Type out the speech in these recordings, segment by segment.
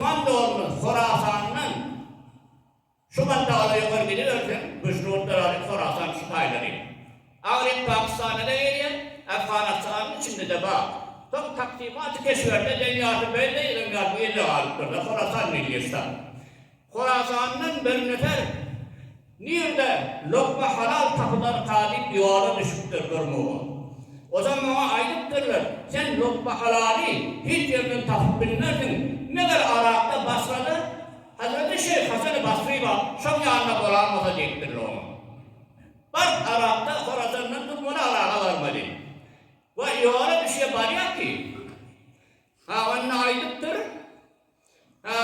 Wan dolma Horasandan şu mantagada ýokary gidiberseň, güýçli gutlar alyp Horasan şu taýdan ýet. Agryň Pakistana-da gelýär, Afganystanyň içinde-de bar. Soň Taksymaty keşberde Deňýarty Beýle ýylyň ýaly bu ýerde galypdyr-da, Horasan milli ştat. Horasandan birnefer Nirde lokma halal tapylarka diýip ýola düşüpdir bir mugun. Ozal maňa aýdypdyrlar, sen lokma halaly hiç ýerden tapyp bilmersiň, meger Yrakda Basrada Hazreti Şeýh Hasany Basry bar, şoň ýanyna boralmasa diýipdirler oňa. Baryp Yrakda Horasandan durmaly Yraga barmaly. Wa ýola düşýär barýar ki. Ha onda aýdypdyr. Ä,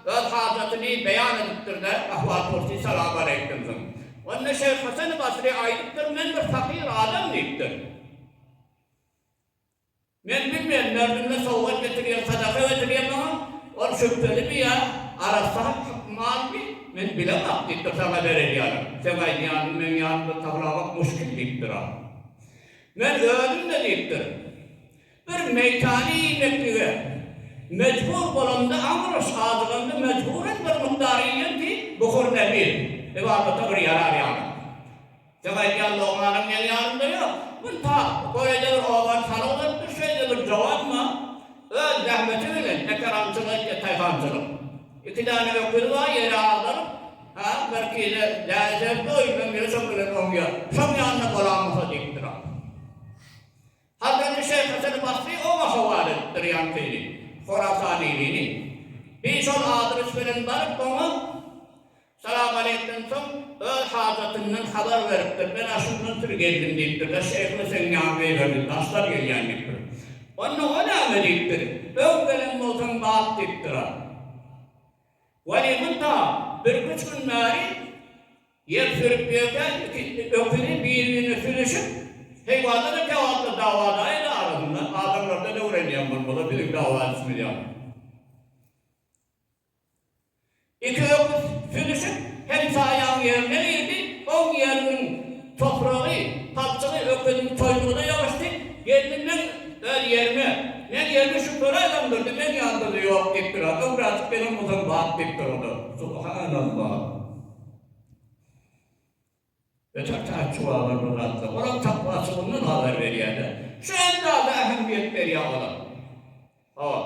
öz hajatyny beýan edipdir-de, ahwal-pursy salam-aleýkumsyň. Onda şeýh Hasany Basry aýdypdyr, Men bir pakyr adam diýipdir. Men bilmeýän, mördüme sowgat getirýär, sadaka getirýär maňa, ol şübhelimi ýa arassa malmy, men bilemok diýipdir, saňa berer ýaly. Seň aýdýanyňy meň ýanymda taplamak muşkil diýipdir-a. Men özüm-de diýipdir. Bir meýtany iýmeklige mejbur bolanda, aň ulaş adyganda mejburan bir mukdar iýen diý, Buhur Nebir, ybadata bir ýarar ýaly. Seň aýdýan logmaňyň meň ýanymda ýok. Bir tar, göýä-de bir obany salyk beripdir, şeýle bir jowanma, öz zähmeti bilen eker aňçylyk etýär, taýhançylyk. Iki däne öküzi bar, ýere agdaryp, hä, birkide däne sebip doýup, ömrüni şoň bilen oňýar. Şoň ýanynda bolamyka diýipdir-ä. Hazreti Şeýhhasan Basry oňa howal edipdir ýankyny, Horasanylyny. Bi şol adres bilen baryp, oňa salamaleýkden soň, öz hajatyndan habar beripdir. Men aşyndan süri geldim diýipdir-de, şeýh Öseň ýaňy beýlerde daşdan gelýän diýipdir. Onda o näme diýipdir, öň gelen bolsaň bat diýipdir-a. Weli munta birküç gün bäri. Ýer sürüp ýörkäň iki öküzi bir-birine süýnüşip, heýwanda-da kebapda dawa daýyny arasynda, adamlarda-da öwrenýän bolmaly, biziň dawa edişimiz ýaly. Iki öküz süýnüşip, hemsaýaň ýerine girdi, oň ýeriniň topragy, palçygy öküziň toýnugyna ýabyşdy, gelni meň öz ýerime, meň ýerime şu göräý öňdürdi, meň ýanymda-da ýok diýip duran, öňräklik gelen bolsaň bap diýip durada. Subhanallah! Öten taýçy baba bir zatlar, olam takwaçy mundan habar berýär-de. Şu hem zada ähmiýet berýär olam. Hop.